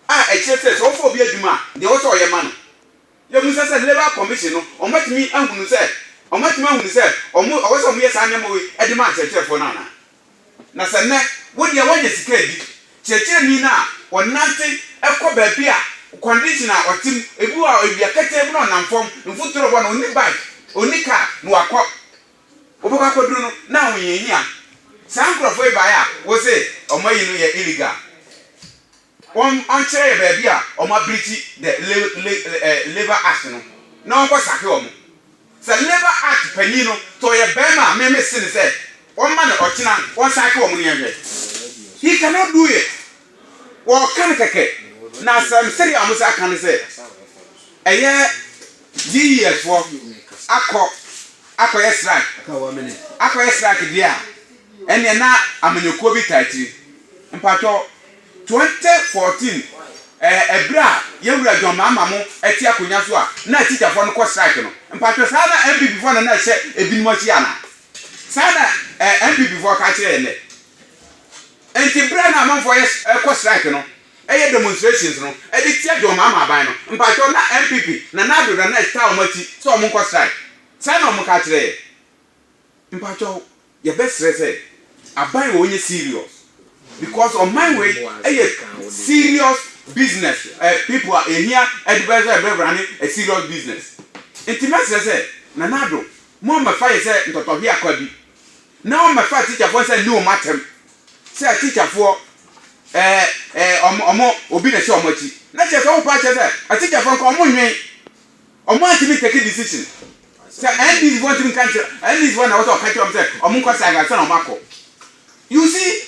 a ɛkyerɛ sɛ sɛ wɔfa obi adwuma a, deɛ ɛwɔ sɛ ɔyɛ ma no yɛ mu. Sɛ sɛ Labour Commission no, wɔatumi ahunu sɛ, wɔatumi ahunu sɛ wɔn, ɛwɔ sɛ wɔyɛ saa nneɛma wei de ma akyerɛkyerɛfoɔ no anaa? Na sɛ nnɛ, wo deɛ woanya sika adi, kyerɛkyerɛni no a, ɔnante kɔ baabi a condition a ɔte mu, ebi wɔ hɔ a awia ketee mu na ɔnam fam, mfuturo bɔ no, ɔnni bike, ɔnni car, na wakɔ Wobɛkɔ akɔduru no na ahohiahia saa nkorɔfoɔ yi baeɛ a wose wɔn ayi no yɛ illegal. Wɔn wɔnkyerɛ yɛ baabi a wɔn abreachi the labour act no na wɔnkɔ sake wɔn. Sɛ labour act panyin no tɔ yɛ barima a me mese no sɛ wɔmma no ɔkyena wɔnsake wɔn no yɛnhwɛ. He cannot do it. Wɔka no kɛkɛ, na asɛm sɛdeɛ a wɔsan ka no sɛ ɛyɛ GES foɔ akɔ akɔyɛ strike akɔyɛ strike deɛ a ɛneɛ na amanyɔkuo bi taa akyiri mpakyɛ 2014 ɛberɛ a yɛwura John Mahama mo ɛte akonya so a na teacher foɔ no kɔ strike no mpakyɛ saa na NPP foɔ no na ɛhyɛ ebinom akyi anaa saa na NPP foɔ ka kyerɛ yɛn dɛ Enti bere a na amanfoɔ yɛ rekɔ strike no, yɛ demonstrations no, de tia John Mahama aban no, mpakyɛw na NPP, Nana Addo Danesh taa wɔn akyi sɛ wɔn nkɔ strike? Saa na wɔn ka kyerɛ yɛn. Mpakyɛw, yɛbɛsrɛ sɛ aban wei nyɛ serious because ɔman wei yɛ serious business people a yɛhia de bɛ sɛ bɛ run a serious business. Enti mɛsrɛ sɛ Nana Addo, mo mmɛfa yɛn sɛ ntɔtɔhweakwa bi. Na wɔmmɛfa atikyafoɔ nsa nni wɔn atɛm, sɛ atikyafoɔ, ɛɛ, ɛɛ, wɔn, wɔn, obi na ɛhyɛ wɔn akyi. Na kyerɛ sɛ, wopa akyerɛ sɛ, atikyafoɔ nka wɔn nnwen, wɔn antumi ntake decision. Sɛ NDC foɔ ntumi nka nkyerɛ, NDC foɔ na ɛwɔ sɛ wɔka kyerɛ wɔn sɛ, wɔn nkɔ Sagres ansa na wɔn akɔ. You see?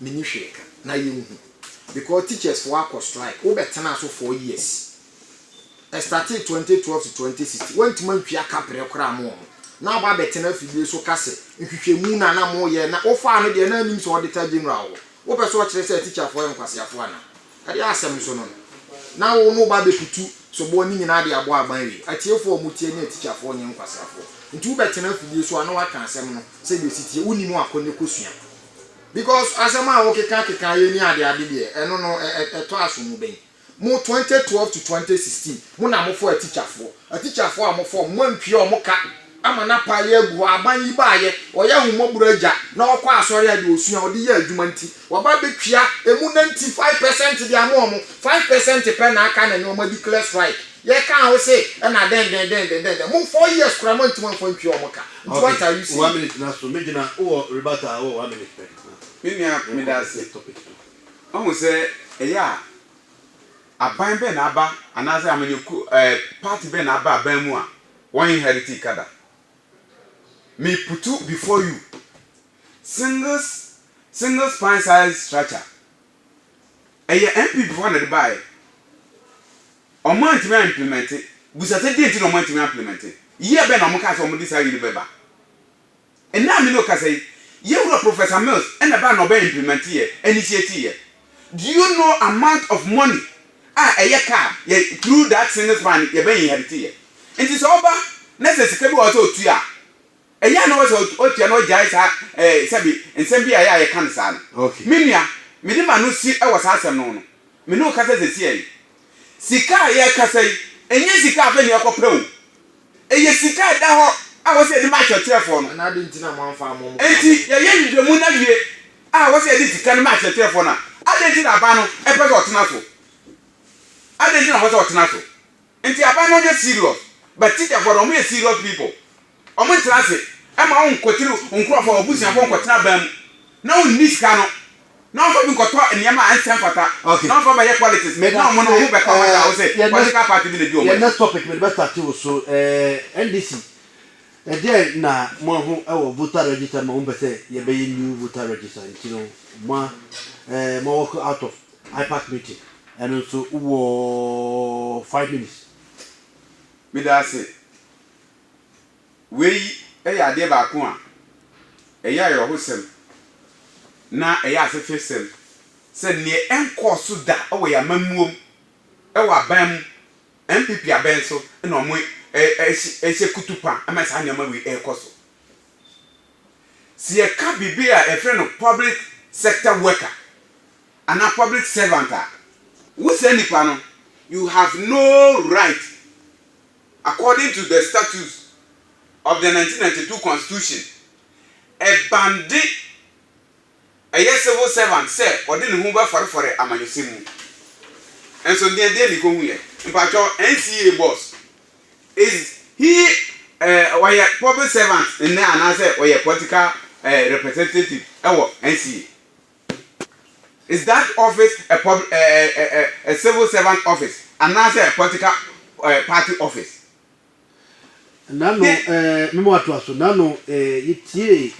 Menni hwee ka. Na yɛnhu. Because teachers foɔ akɔ strike. Wo bɛ tenaa so four years. Ɛstartee twenty twelve to twenty sixteen. Woantumi antwea ka brɛ koraa ama wɔn. Na waba abɛtena afidie so ka sɛ nhwehwɛmu na na moyɛ. Na wofaa no deɛ na nnim sɛ auditor general wɔ hɔ. Wopɛ sɛ ɔkyerɛ sɛ teacher foɔ yɛ nkwaseafoɔ anaa? Ɛdeɛ asɛm nso no no. Na wo na woba abɛkutu soboɔ no nyinaa de abɔ aban awie. Atiefoɔ a wɔtie ne ateacher foɔ nyɛ nkwaseafoɔ. Nti wobɛtena afidie so a na woaka asɛm no sɛdeɛ ɛsi teɛ. Wonnim a kɔ ne kɔsua. Because asɛm a wokeka keka yɛ ni ade ade deɛ ɛno no ɛtɔ aso mu bɛn mo twenty twelve to twenty sixteen mo na mofɔ atikyafoɔ atikyafoɔ a mofɔ ɔmo moantua ɔmo ka ama no apaale agu hɔ aban yi baayɛ ɔyɛ ahomɔborɔ agya na ɔkɔ asɔre a deɛ ɔsua ɔde yɛ adwuma nti waba abɛtua ɛmu ninety five percent de ama ɔmo five percent pɛ na aka na ɛnɛ ɔmo adeclare strike yɛkaa wo se ɛna dɛn dɛn dɛn dɛn dɛn mo four years koraa moantumi amfa antua ɔmo ka. Nti what are you saying? Okay, one minute na so, megyina, wowɔ rebuttal a, wowɔ one minute pɛ na. Me nua, meda ase. Wahu sɛ ɛyɛ a, aban bɛn na aba anaasɛ amanyɔkuo ɛɛ party bɛn na aba aban mu a wɔn inheritii ka da? Me putu before you, singles, single spine size structure. Ɛyɛ NPP foɔ na ɛde baeɛ. Wɔn antumi a implemɛnte. Bisa sɛ deɛ nti na wɔn antumi a implemɛnte. Year bɛn na wɔn kaa sɛ wɔn de saa wei bɛba. Nnɛ a me ne wo kasa yi, yɛn wura Professor Mills na ɛbaeɛ na ɔbɛ implemɛnte yɛ, initiate yɛ. Do you know amount of money a ɛyɛ kaa yɛ through that single span yɛbɛ inherit yɛ. Nti sɛ ɔba na sɛ sika bi wɔ hɔ sɛ ɔtua a, Ɛyɛ a na ɔpɛ sɛ ɔtua na ɔgyae saa ɛɛ sɛbe nsɛm bi a ɛyɛ a yɛka no saa no. Okay. Me nua, mede m'ano si wɔ saa asɛm no ho no, me ne wo kasa seesei yi. Sika a yɛrekasa yi, ɛnyɛ sika a afei na yɛkɔpɛ o. Ɛyɛ sika a ɛda hɔ a ɛwɔ sɛ yɛde ma akyerɛkyerɛfoɔ no. Ɛna adɛn nti na moamfa ammɔ mo paa Enti, pɛn? yɛyɛ nhwehwɛmu no awie a ɛwɔ sɛ yɛde sika no ma akyerɛkyerɛfoɔ no a, adɛn nti na aban no pɛ sɛ ɔtena so? Adɛn nti na ɔpɛ sɛ ɔtena so? Nti aba no nyɛ serious but tikyafoɔ no ɔmo yɛ serious people ɔmo ntra ase ɛma wo nkɔtiri nkorɔfoɔ abusuafoɔ nkɔtena ban mu na wo nni sika no na ɔmfa bi nkɔtɔ nneɛma a ɛnsɛ mfata okay na ɔmfa bɛyɛ politics na ɔmo no ɔmo bɛka ɔmo da wo se political party bi na di ɔmo akyi. Yɛ next topic mede bɛ starte wo so ɛɛ NDC ɛdeɛn na mo ahu ɛwɔ voter register ma mo pɛ sɛ yɛ bɛyɛ new voter register nti no mo a ɛɛ mo wɔ out of. Ipac meeting ɛno nso wowɔ five minutes. Medaase. Wei yɛ adeɛ baako a ɛyɛ ayerɛhosɛm na ɛyɛ asehwesɛm sɛ neɛ ɛnkɔɔ so da wɔ yɛn amammuom wɔ aban mu, NPP abɛn so na ɔmo hyɛ kutupa ma saa nneɛma wei ɛrekɔ so. Sɛ yɛka biribi a yɛfrɛ no public sector worker Anaa public servant a, wo saa nipa no you have no right according to the statutes of the nineteen ninety two constitution ɛbande ɛyɛ civil servant sɛ ɔde ne ho bɛfɔrefɔre amanyɔsɛm mu. Nso ndeɛ ndeɛ na ekɔ hu yɛ mpakyɛw NCA boss is he ɛɛ ɔyɛ public servant nnɛ anaasɛ ɔyɛ political ɛɛ representative ɛwɔ NCA. Is that office a pub a a a civil servant office anaasɛ a political eh, party office? Nano Te- eh, mema watoa so. Nano eh, yɛtiee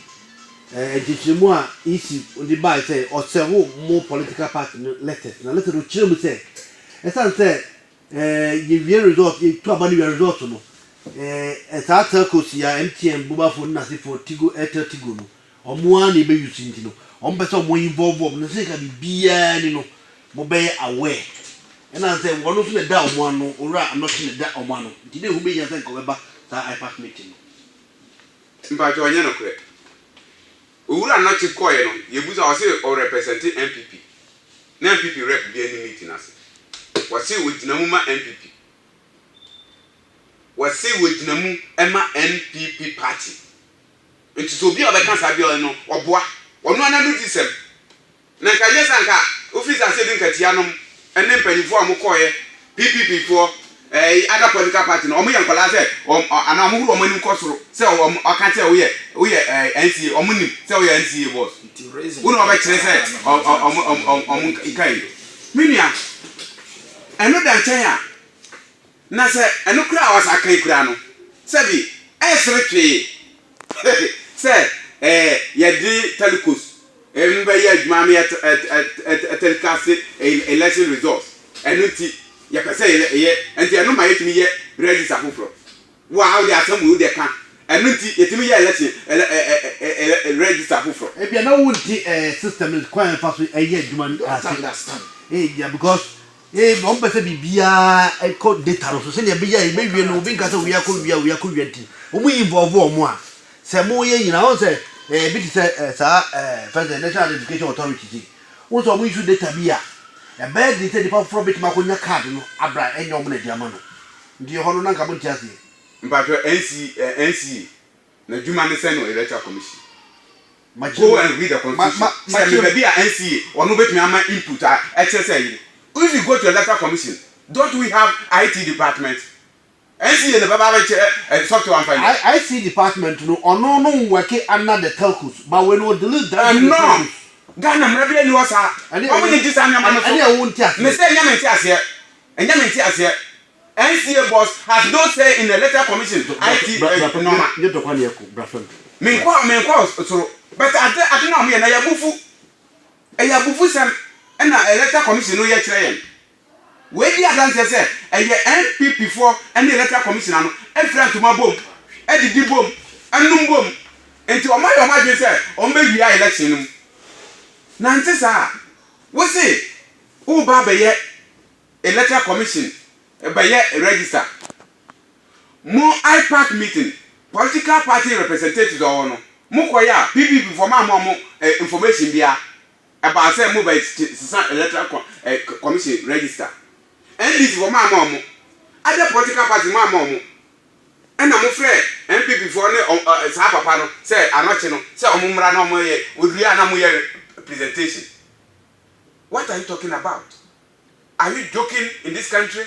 eh, nkyekyeremu a EC de bae sɛ ɔsɛwo mo political party no letters. Na letter no kyerɛ mu sɛ ɛsiane sɛ eh, yɛwie result, yɛtu aba no wia result no, eh, eh, saa telcos yi a MTN, Bubafo ne n'asefoɔ, Tigo, Airtel Tigo no, Wɔn ara na yɛbɛ use nti no wɔn pɛ sɛ wɔn involve wɔn no sɛ ka biribiara ni no mo bɛyɛ aware ɛna sɛ wɔn nso na ɛda wɔn ano owura anɔkye na ɛda wɔn ano nti na ɛho bɛhia sɛ nka wɔbɛba saa IPAC meeting no. Mpakyɛw ɛnyɛ nokorɛ. Owura Anɔkye kɔeɛ no yɛbusa ɔse ɔrepresente NPP na NPP rep biaa nni meeting no ase. Wɔse wɔgyina mu ma NPP. Wɔse wɔgyina mu ma NPP party. Enti sɛ obi a ɔbɛka saa biara no, ɔboa ɔno ara n'anudisɛm. Na anka ɛnyɛ sɛ anka wofii saa ase de nkatia nom ne mpanyimfo a wɔkɔeɛ, PPP foɔ, ɛɛ other political party no, wɔyɛ nkwadaa sɛ wɔn anaa wɔn horo wɔn anim kɔ soro sɛ wɔn ɔka sɛ woyɛ woyɛ ɛɛ NCA, wɔn nim sɛ woyɛ NCA boss. Wo na wɔbɛkyerɛ sɛ wɔn wɔn wɔn wɔn nka yi. Me nua, ɛno da nkyɛn a, Na sɛ ɛno koraa a wɔasa kan koraa no, sɛbi ɛresere twee sɛ ɛɛ yɛde telcos ɛm bɛyɛ adwuma ama yɛ ɛ telecast election results, ɛno nti yɛpɛ sɛ yɛ nti ɛno ma yɛtumi yɛ register foforɔ. Wo a wode asɛm wei wode ka, ɛno nti yɛtumi yɛ election ɛlɛ ɛ ɛ ɛ register foforɔ. Ebia na wonte ɛɛ system no kwan a yɛfa so yɛ adwuma no ase, ebia because. Ee, na wɔpɛ sɛ biribiara kɔ data no so sɛnea ɛbɛyɛ a yɛbɛwie no, obi nka sɛ wia kɔ wia, wia kɔ wia nti, wɔn involve wɔn a sɛ moyɛ nyina, wɔn sɛ eh, ebi te sɛ eh, saa eh, fɛn sɛ National Identification Authority ti, wɔn sɛ wɔn issue data bi a, ɛbɛyɛ den sɛ nipa foforɔ bɛtumi akɔnya card no abra ɛnyɛ wɔn na ɛde ama no, nti ɛhɔ no na nka mo nte aseɛ. Mpakyɛw NC, eh, NCA, N'adwuma ne sɛn wɔ Electoral Commission? Go and read the constitution. Sɛ me baabi a NCA ɔno bɛtumi ama input a ɛkyerɛ sɛ ɛyere. If you go to Electoral Commission, don't we have IT department? NCA na ɛbɛba abɛkyerɛ software amfa nyɛ. IT department no ɔno no nwɔke under the telcos but wei no wɔ delete that from the telcos. Ɛnno Ghana mmara biara nni hɔ saa. Wɔn na ɛdi saa nneɛma no so. Ɛnneɛ wo nte aseɛ. Mese ɛnyɛ me nte aseɛ. Ɛnyɛ me nte aseɛ. NCA boss has no say in the letter commission to IT eh, nneɛma. Nye dɔkɔ a na yɛkɔ bra fam. Menkɔ menkɔ soro but ade ade no a wɔyɛ na yɛ abufu. Ɛyɛ abufusɛm ɛna electoral commission no yɛ kyerɛ yɛn. Wei di adanseɛ sɛ ɛyɛ NPP foɔ ɛne electoral commissioner no ɛfira ntoma bom, ɛdidi bom, ɛnom bom nti wɔn ayɛ wɔn adwene sɛ wɔn bɛ wia election no mu. Na ɛnte saa a, wo se wo reba abɛyɛ Electoral Commission bɛyɛ register. Mo IPAC meeting, political party representatives a wɔwɔ no, mo kɔe a, PPP foɔ moamma wɔn information biara. Ɛbaa sɛ mo bɛ sesa electoral commission register. NDC foɔ moamma wɔn. Other political parties moamma wɔn. Ɛna mo frɛ NPP foɔ ne saa papa no sɛ anɔkye no sɛ wɔn mmra na wɔn yɛ, wɔduru a na mo yɛ presentation. What are you talking about? Are you joking in this country?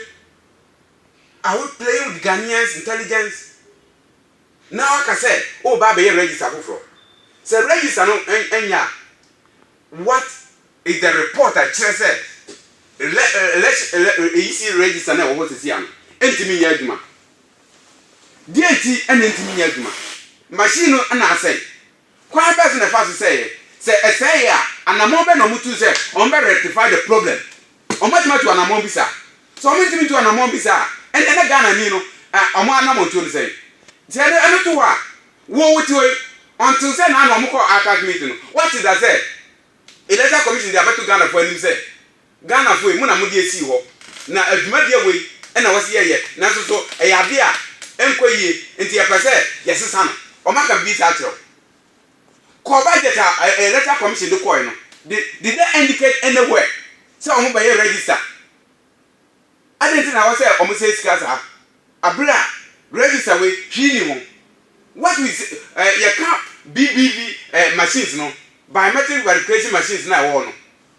Are we playing with Ghanaians intelligence? Na waka sɛ woreba abɛyɛ register foforɔ. Sɛ register no nyɛ a, what is the report a ɛkyerɛ sɛ elec ayisi register no a ɛwɔ hɔ sɛsi a no ntumi nyɛ adwuma? Deɛ nti na ɛntumi nyɛ adwuma? Machine no na asɛe? Kwan bɛn so na ɛfa so sɛeɛ? Sɛ ɛsɛeɛ a, anammɔn bɛn na wɔtuu sɛ wɔbɛ rectify the problem? Wɔbɛtumi atu anammɔn bi saa? Sɛ wɔntumi ntu anammɔn bi saa a, ɛnneɛ na Ghanani no wɔn anammɔntuo no sɛn? Sɛ yɛde ɛno to hɔ a, wo wote hɔ yi, ɔntoo sɛ na na wɔkɔɔ Arcas meeting no, woate da sɛ Electoral Commission de abɛto Ghanafoɔ anim sɛ Ghana foɔ yi mo na mo de esii hɔ na adwumadeɛ wei na wɔsi yɛ yɛ nanso so ɛyɛ adeɛ a ɛnkɔ yie nti yɛ pɛ sɛ yɛ sesa no wɔn aka bibi saa akyerɛ wo kɔ budget a electoral commission de kɔɛ no de did they indicate anywhere sɛ wɔn bɛyɛ register adɛn nti na ɛwɔ sɛ wɔn sɛ sika saa abere a register wei hwii ni ho what we yɛ ka BBV machines no biometric verification machines na ɛwɔ hɔ no.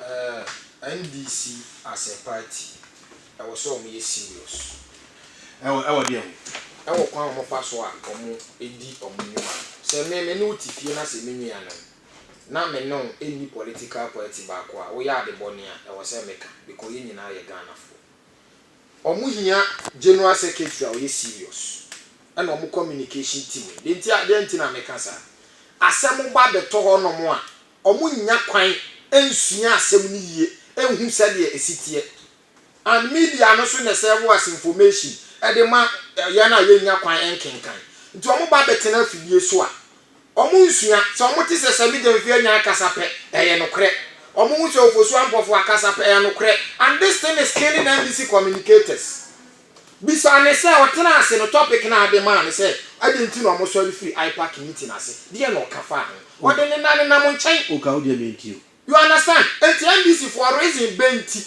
Eh NDC as a party ɛwɔ sɛ ɔmo yɛ serious ɛwɔ ɛwɔ deɛ ho? Ɛwɔ kwan a ɔmo fa so a ɔmo di ɔmo nwuma no. Sɛ me me ne wo te fie na sɛ me nua nom na me ne wo nni political party baako a woyɛ ade bɔne a ɛwɔ sɛ me ka because yɛn nyinaa yɛ Ghanafoɔ. Ɔmo hia general secretary a ɔyɛ serious ɛna ɔmo communication team. Deɛ nti a deɛ nti na me ka saa asɛm ba bɛtɔ hɔ nom a wɔnnya kwan nsua asɛm no yie nhu sɛdeɛ ɛsi teɛ. And media no nso na ɛsɛɛvo as information de ma yɛn a yɛnnya kwan nkenkan. Nti wɔn ba bɛtena afidie so a, wɔn nsua. Sɛ wɔn te sɛ Sami Gyamfi Anyan kasa pɛ, ɛyɛ nokorɛ. Wɔn hu sɛ Ofosu Ampɔfoa kasa pɛ, ɛyɛ nokorɛ. And this thing is killing NBC communicators. Bisaa no sɛ ɔtenaa ase no topic no a ade maa no sɛ adɛn nti na wɔsɔre firii IPAC meeting ase, deɛn na ɔka faa ho? Ɔde ne nan nam nkyɛn. Woka wo deɛ mentie o. You understand? Enti NDC foɔ reason bɛn nti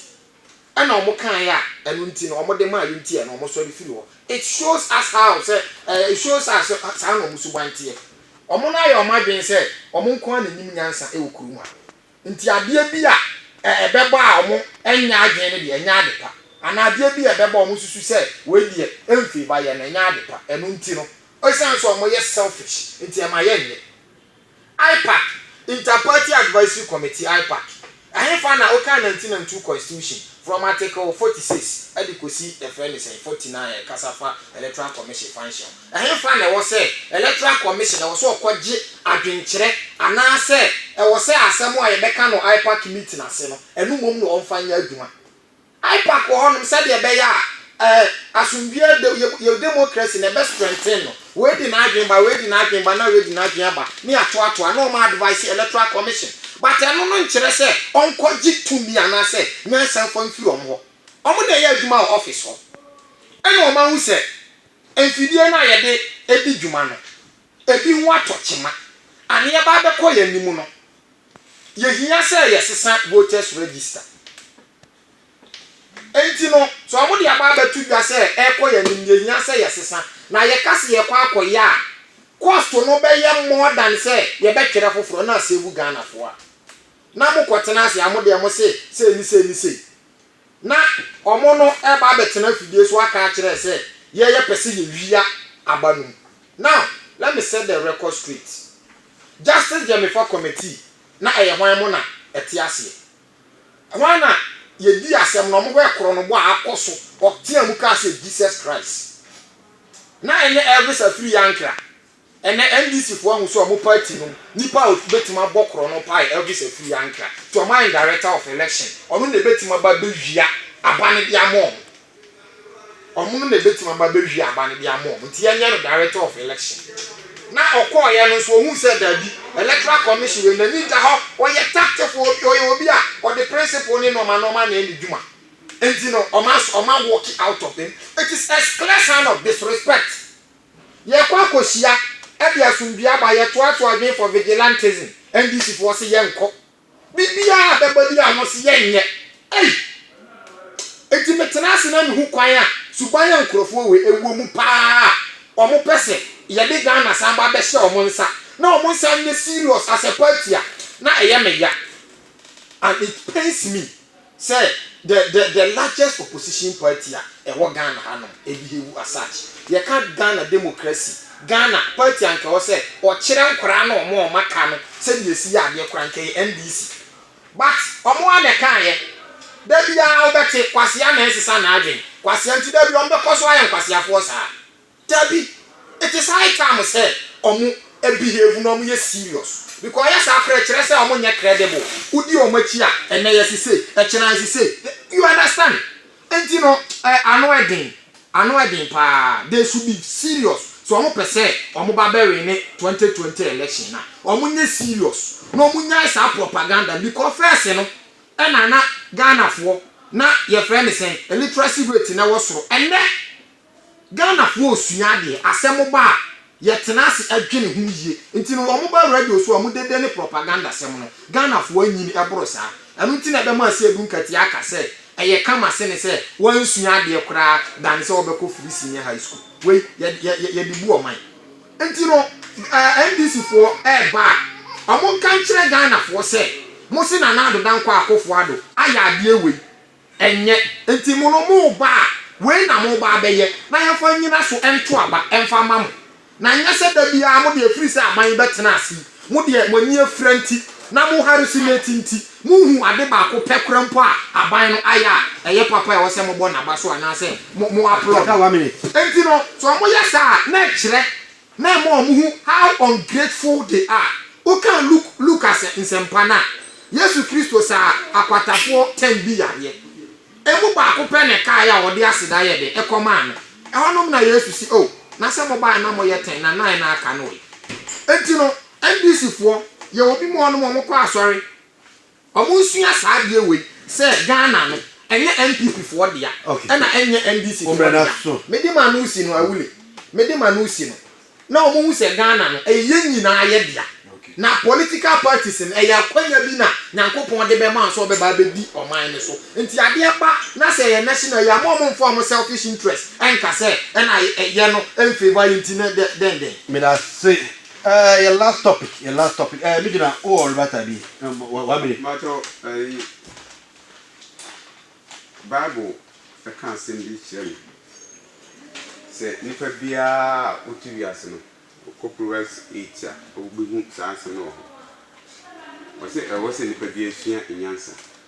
na wɔkaeɛ a ɛno nti no wɔde maaeɛ nti a na wɔsɔre firii hɔ? It shows us how sɛ eh, it shows us sɛ saa na wɔn suban teɛ. Wɔn no ayɛ wɔn adwene sɛ wɔn nko ara na ɛnim nyansa wɔ kurom ha. Nti adeɛ bi a ɛbɛba a wɔnyɛ adwene no deɛ, ɛnyɛ ade pa. Anaa adeɛ bi a ɛbɛba a wɔsusu sɛ wei deɛ ɛmfii ba yɛ no, ɛnyɛ ade pa. Ɛno nti no, ɛsiane sɛ wɔyɛ selfish nti, ɛma yɛnyɛ. Ipac, Inter-Party Advisory Committee, Ipac, Ɛhefa na wokan 1992 Constitution, from Article 46 de kɔsi, yɛfrɛ no sɛn, 49 a ɛkasa fa Electoral Commission function ho? Ɛhefa na ɛwɔ sɛ Electoral Commission ɛwɔ sɛ ɔkɔgye adwenkyerɛ anaasɛ ɛwɔ sɛ asɛm a yɛbɛka no IPAC meeting ase no, ɛno mmom na ɔmfa nyɛ adwuma? IPAC wɔ hɔnom sɛdeɛ ɛbɛyɛ a eh, asomdwoeɛ de, yɛ, yɛ democracy na ɛbɛ strengthen no. Wei de n'adwene ba, wei de n'adwene ba, na wei de n'adwene aba, ne atoatoa, na ɔma advice Electoral Commission. But ɛno no nkyerɛ sɛ ɔnkɔgye tumi anaasɛ nyansa mfa mfiri wɔn hɔ. Wɔn na ɛyɛ adwuma wɔ office hɔ. Ɛna wɔahu sɛ. Mfidie no a yɛde di dwuma no, ebi ho atɔ kyema. Aneɛba bɛkɔ yɛn anim no, yɛhia sɛ yɛsesa voters register. Enti no, sɛ wɔde aba abɛto dwa sɛ ɛrekɔ yɛn anim, yɛhia sɛ yɛsesa. Na yɛka sɛ yɛrekɔ akɔyɛ a, cost no bɛyɛ more than sɛ yɛbɛtwerɛ foforɔ na asave Ghanafoɔ a na mokɔtena ase a mo deɛ mose sei ne sei ne sei. Na wɔn no ɛɛba abɛtena afidie so aka akyerɛ sɛ yɛ yɛ pɛ sɛ yɛ wia aba no mu now let me set the record straight justice gyamifa committee na ɛyɛ hwan mo na ɛte aseɛ hwan na yɛ dii asɛm no wɔn hɔ ɛkorɔ no bɔ a akɔ so ɔtea mu kaa sɛ jesus christ na ɛnyɛ elvis afiri yankra. Ɛnɛ NDC foɔ ahu sɛ ɔmo party nom nipa a ɔbɛtumi abɔ korɔ no paa yɛ Elvis Afuye Ankrah nti ɔmo ayɛ no director of election ɔno na ɛbɛtumi aba abɛwia aba no de ama ɔmo ɔmo no na ɛbɛtumi aba abɛwia aba no de ama ɔmo nti yɛnyɛ no director of election na ɔkɔɔyɛ no nso ɔhuu sɛ daabi electoral commission wei n'ani nda hɔ ɔyɛ tactful obi ɔyɛ obi a ɔde principle ne nnoɔma nnoɔma na ɛyɛ ne dwuma nti no ɔmo as ɔmo awɔki out of him it is a clear sign of disrespect. Yɛkɔ akɔhyia, ɛde asomdwie aba, yɛtoatoa adwene for vigilantism, NDC foɔ se yɛnkɔ, biribiara a bɛba biara wɔn se yɛnyɛ, ei! Enti metena ase na mehu kwan a suban a nkorɔfoɔ wɔ ɛwɔ mu paa a wɔn pɛ se yɛde Ghana san ba bɛhyɛ wɔn nsa na wɔn nsan nyɛ serious as a party a na ɛyɛ me ya and it pains me. Sɛ the the the largest opposition party a ɛwɔ Ghana ha nom ɛbehevu as such. Yɛka Ghana democracy, Ghana party a nka ɛwɔ sɛ ɔkyerɛ nkwadaa no wɔn a wɔn aka no sɛdeɛ ɛsi yɛ adeɛ koraa nka ɛyɛ NDC. But wɔn ara na ɛkaeɛ. Da biara wobɛte kwasea na ɛnsesa n'adwene, kwasea nti da biara wɔbɛkɔ so ayɛ nkwasiafoɔ saa. Dabi it is high time sɛ ɔmo behave na ɔmo yɛ serious because ɔyɛ saa koraa ɛkyerɛ sɛ ɔmo nyɛ credible wodi ɔmo akyi a ɛnɛ yɛse sei ɛkyena yɛse sei you understand nti no eh ano ɛden ano ɛden paa they should be serious sɛ ɔmo pɛ sɛ ɔmo ba bɛ wine 2020 election a ɔmo nyɛ serious na ɔmo nyae saa propaganda no because first no ɛna na Ghanafoɔ na yɛfrɛ no sɛn literacy rate no ɛwɔ soro ɛnɛ Ghanafoɔ resua adeɛ, asɛm ba a, yɛtena ase dwene ho yie. Nti no, wɔba radio so a, wɔdede ne propagandasɛm no. Ghanafoɔ anyini boro saa. Ɛno nti na ɛbɛma Asiedu Nkati aka sɛ, ɛyɛ kama sene sɛ wɔansua adeɛ koraa dane sɛ wɔbɛkɔ Free Senior High School. Wei, yɛde bu ɔman. Nti no, NDCfoɔ reba a, wɔnka nkyerɛ Ghanafoɔ sɛ, mose Nana Addo Dankwa Akufo-Addo ayɛ adeɛ wei. Ɛnyɛ. Enti mo no, mo reba a, wei na moreba abɛyɛ, na yɛmfa nnyina so nto aba mfa mma mo. Na ɛnyɛ sɛ da biara mo deɛ ɛfiri sɛ aban yi bɛtena ase yi, mo deɛ mo ani afira nti, na mo harassment nti, monhuu ade baako pɛ koraa mpo a aban no ayɛ a ɛyɛ papa a ɛwɔ sɛ mobɔ no aba so anaasɛ mo applaud no. Enti no, sɛ wɔyɛ saa a, na ɛkyerɛ na ɛma wɔhu how ungrateful they are. Wokan Luke Luka nsɛmpa no a, Yesu Kristo saa akwatafoɔ ten bi yareɛ. Emu baako pɛ na ɛkaeɛ a wɔde aseda yɛ dɛ kɔmaa no. Ɛhɔnom na Yesu se, Oh, na sɛ mobaeɛ na moyɛ ten na nnan na aka no ɛ. Enti no, NDC foɔ, yɛwɔ bi mu hɔnom wɔkɔ asɔre, Ɔmo nsua saa adeɛ wei sɛ Ghana no ɛnyɛ NPP foɔ dea ɛna ɛnyɛ NDC foɔ dea mede ma no si no awule mede ma no si no na ɔmo hu sɛ Ghana no ɛyɛ yɛn nyinaa yɛ dea na political parties no ɛyɛ akwanya bi na Nyankopɔn de bɛma sɛ ɔbɛba abɛdi ɔman no so nti adeɛ ba na sɛ ɛyɛ national yi a mo ɔmo mfa ɔmo selfish interest ɛnka sɛ ɛna yɛ no ɛnfavour yɛ nti na dɛn dɛn. Medase Eh yɛ last topic yɛ last topic eh me gyina wowɔ oh, rebata bi eh, one minute. Makyɛw ɛyi bible ɛka asɛm bi kyerɛ me sɛ nipa biara a wote wiase no wokɔ Proverbs 8 a wobɛhu saa asɛm no wɔ hɔ ɔsɛ ɛwɔ sɛ nipa biara sua nyansa.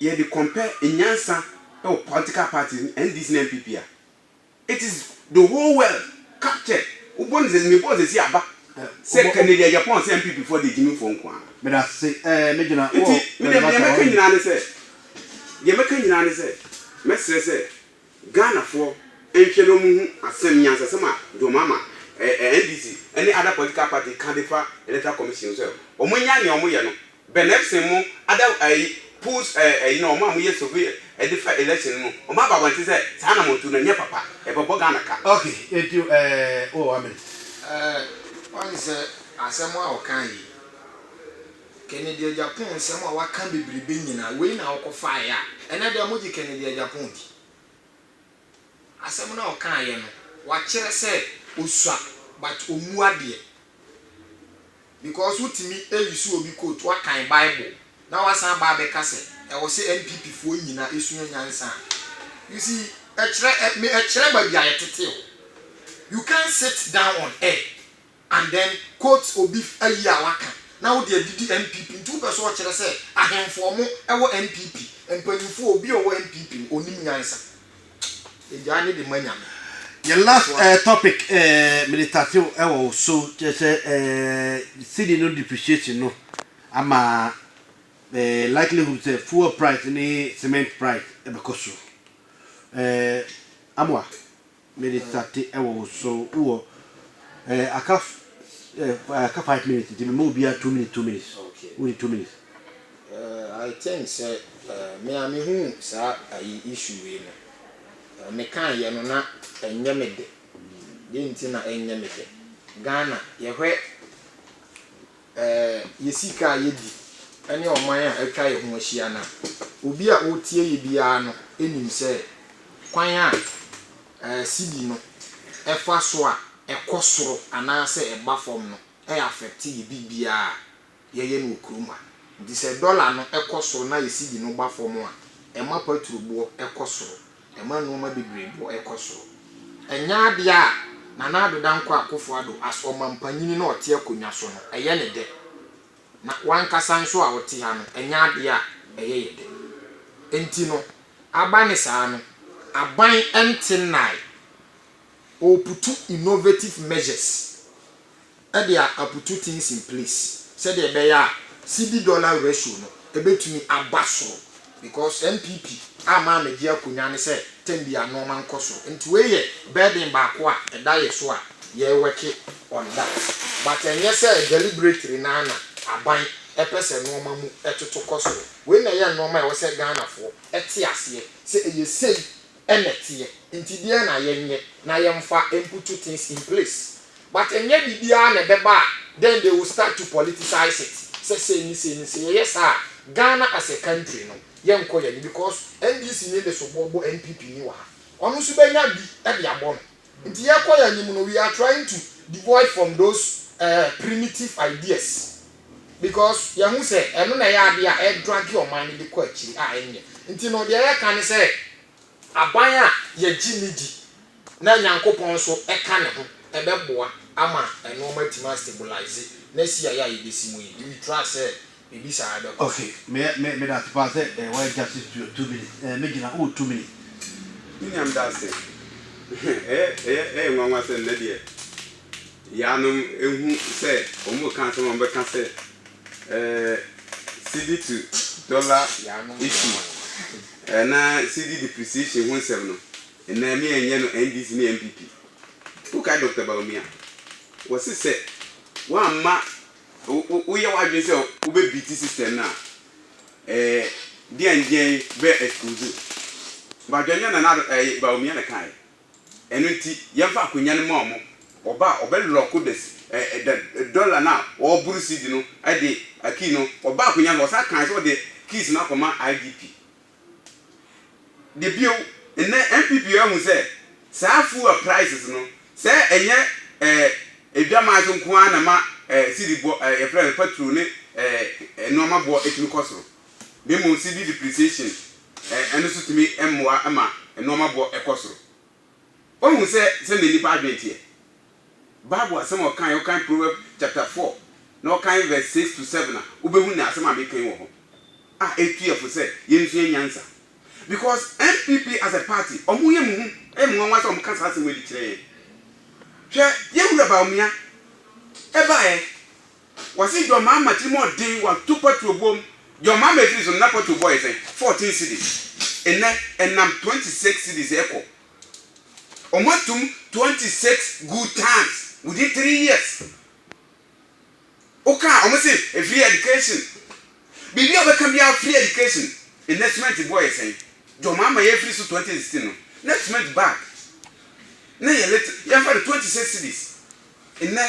yɛ de compare nyansa wɔ political parties, NDC ne NPP a, it is the whole world captured. Wo bɔ no sɛ, me bɔɔ sɛsi aba sɛ Kennedy Agyapong sɛ NPP foɔ deɛ Gyimii foɔ nko ara. Medase eh, me gyina wɔ Nti, me deɛ deɛ mɛka nyinaa ne sɛ, deɛ mɛka nyinaa ne sɛ, mɛsrɛ sɛ, Ghanafoɔ nhwɛ na wɔn hu asɛm nyansasɛm a John Mahama, eh, NDC ne other political party ka de fa electoral commission ho sɛ wɔn nyae nea wɔn yɛ no, Ben Epson mo other ayi polls eh, ayi no wɔn a mo yɛ survey eh, de fa election no no wɔn aba abɔnten sɛ saa na mo tu no ɛnyɛ papa, ɛbɛ bɔ Ghana ka. Ok, enti eh, oh, amen. Eh, wɔn sɛ asɛm a ɔkae yi. Kennedy Agyapong nsɛm a waka bebrebe nyina wei na ɔkɔfaeɛ a ɛnɛ dɛ mogye Kennedy Agyapong di? Asɛm no a ɔkaeɛ no wakyerɛ sɛ ɔsua but ɔmmu adeɛ because wotumi release obi quote wakan bible na wasan aba abɛka sɛ ɛwɔ sɛ NPP foɔ nyina sua nyansa a you see ɛkyerɛ me ɛkyerɛ baabi a yɛtete o you can't sit down on air And then quote obi ayi a waka na wode adidi NPP nti wopɛ sɛ ɔkyerɛ sɛ ahemfo ɔmo wɔ NPP mpanyinfo a obi a ɔwɔ NPP no ɔnim nyansa yɛgyae ne de ma Nyame. Yɛn last topic mede tatew wɔ wo so kyerɛ sɛ cedi no depreciation no ama likelihood sɛ fuel price ne cement price bɛkɔ soro Amoah Mede tate wɔ wo so. Wowɔ eh, aka f eh, aka five minutes nti mema obiara two minutes two minutes. Okay. Wode two minutes. Uh, I think sɛ uh, me a mehu saa ayi issue wei no. Uh, mekaeɛ no na ɛnyɛ me dɛ. Deɛ nti na ɛnyɛ me dɛ. Ghana yɛhwɛ. Ɛɛ, yɛ sika a yedi ne ɔman a atwa yɛn ho ahyia no a, obi a ɔretie yɛn biara no nim sɛ kwan a ɛɛ sidi no fa so a ɛkɔ soro anaasɛ ɛba fam no afɛkte yɛn biribiara a yɛyɛ no wɔ kurom ha. Nti sɛ dɔla no kɔ soro na yɛ sidi no ba fam a, ɛma paturoboɔ kɔ soro. Ɛma nnoɔma bebree boɔ ɛkɔ soro. Ɛnyɛ adeɛ a Nana Addo Dankwa Akufo Addo as Ɔmampanyini na ɔte akonnwa so no, ɛyɛ no dɛ. Na w'ankasa nso a wote ha no, ɛnyɛ adeɛ a ɛyɛ yɛ dɛ. Enti no, aba ne saa no, aban nte nnae. Ɔreputu innovative measures. de a aputu things in place sɛdeɛ ɛbɛyɛ a cedi dollar ratio no ɛbɛtumi aba soro because NPP ama amɛgye akonwa ne sɛ term biara nnoɔma nkɔ soro nti wei yɛ burden baako a ɛda yɛ so a yɛ worke on that but ɛnyɛ sɛ deliberately no ara na aban ɛpɛ sɛ nnoɔma mu ɛtoto kɔ soro wei na ɛyɛ nnoɔma a ɛwɔ sɛ Ghanafoɔ ɛte aseɛ sɛ ɛyɛ sei na ɛteɛ, nti deɛn na yɛnyɛ na yɛmfa mputu things in place but ɛnyɛ biribiara na ɛbɛba a then they will start to politicize it sɛ sei ne sei ne sei, yɛyɛ saa a Ghana as a country no yɛnkɔ yɛn anim because NDC ni de soboɔ bɔ NPP ni wɔ ha, ɔno nso bɛnya bi de abɔ no nti yɛkɔ yɛn anim no we are trying to devoid from those eh primitive ideas. Because yɛahu sɛ ɛno na ɛyɛ adeɛ a ɛdrage ɔman no de kɔ akyiri a ɛnyɛ. Nti no deɛ yɛka ne sɛ aban a yɛgye no di na Nyankopɔn nso ka ne ho ɛbɛboa ama nnoɔma atumi a stabilize na asi ayɛ a yɛbɛsi mu yi. Do we trust sɛ biribi saa ɛbɛkɔ so? Okay, me me meda ase paa sɛ eh, wayɛ justice to your two minutes. Eh, me gyina, wowɔ two minutes. Me nua meda ase. Ɛyɛ ɛyɛ ɛyɛ nwanwa sɛ nnɛ deɛ. Yaanom ehu sɛ wɔreka asɛm a wɔbɛka sɛ ɛɛ cedi to dollar issue ɛna cedi depreciation ho nsɛm no ɛna me yɛnyɛ no NDC ne NPP. Wokae Doctor Bawumia wɔse sɛ woamma wo wo yɛ w'adwene sɛ wobɛ beat system no a ɛɛ deɛn deɛn bɛ excuse wo. Badwa nyɛ Nana Addo ɛɛ Bawumia na ɛkaeɛ. Ɛno nti, yɛmfa akonnwa no mma wɔn. Ɔba a, ɔbɛlɔɔko coders, ɛ, ɛ, da, ɛ, dɔla no a ɔreboro CD no de ɛ, key no, ɔbaa akonnwa no so, ɔsan kae sɛ ɔde keys no akɔma IGP. De bio, nnɛ NPP ahu sɛ saa fuel prices no, sɛ ɛnyɛ ɛ, adwaman so nko ara na ɛma ɛ, CD boɔ, ɛ, yɛfrɛ no petrol ne ɛ, ɛ, nnoɔma boɔ tumi kɔ soro. na mmom cedi depreciation ɛno nso tumi mmoa ma nnoɔma boɔ kɔ soro. Woahu sɛ sɛdeɛ nnipa adwene teɛ? Bible asɛm a ɔkaeɛ, wokan Proverbs chapter four na wokan verse six to seven a, wobɛhu nea asɛm a meka yi wɔ hɔ a ɛtu yɛn fo sɛ yɛnsua nyansa. Because NPP as a party, wɔyɛ mu hu, ɛyɛ me nwanwa sɛ wɔka saa asɛm yi de kyerɛ yɛn. Hwɛ yɛn Wura Bawumia, ɛbaeɛ. Wɔse John Mahama tiri mu ɔden wato patuo bom John Mahama efiri so no na patuo bɔ yɛ sɛn? Fourteen cedis nnɛ ɛnam twenty six cedis ɛkɔ Ɔmo atum twenty six good tons within three years Wo kaa ɔmo se free education Biribi a wobɛka biara free education Nnɛ cement bɔ yɛ sɛn? John Mahama yɛ firi so twenty sixteen no na cement bag na yɛ little yɛmfa no twenty six cedis nnɛ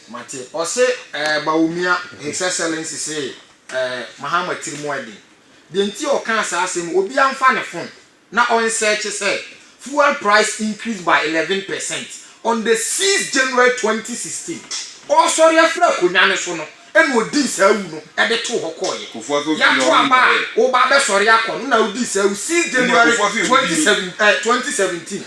Mate. Ɔse eh Bawumia His Excellency se eh Mahama tiri mu ɛden. Deɛ nti a ɔkaa saa asɛm yi, obiara mfa ne phone na ɔnsearche sɛ fuel price increased by eleven percent on the sixth January twenty sixteen. Ɔresɔre afiri akonwa no so no na ɔdii saa awu no de too hɔ kɔeɛ. Yɛato aba a woreba abɛsɔre akɔ no na wodii saa awu sixth January twenty seven eh twenty seventeen.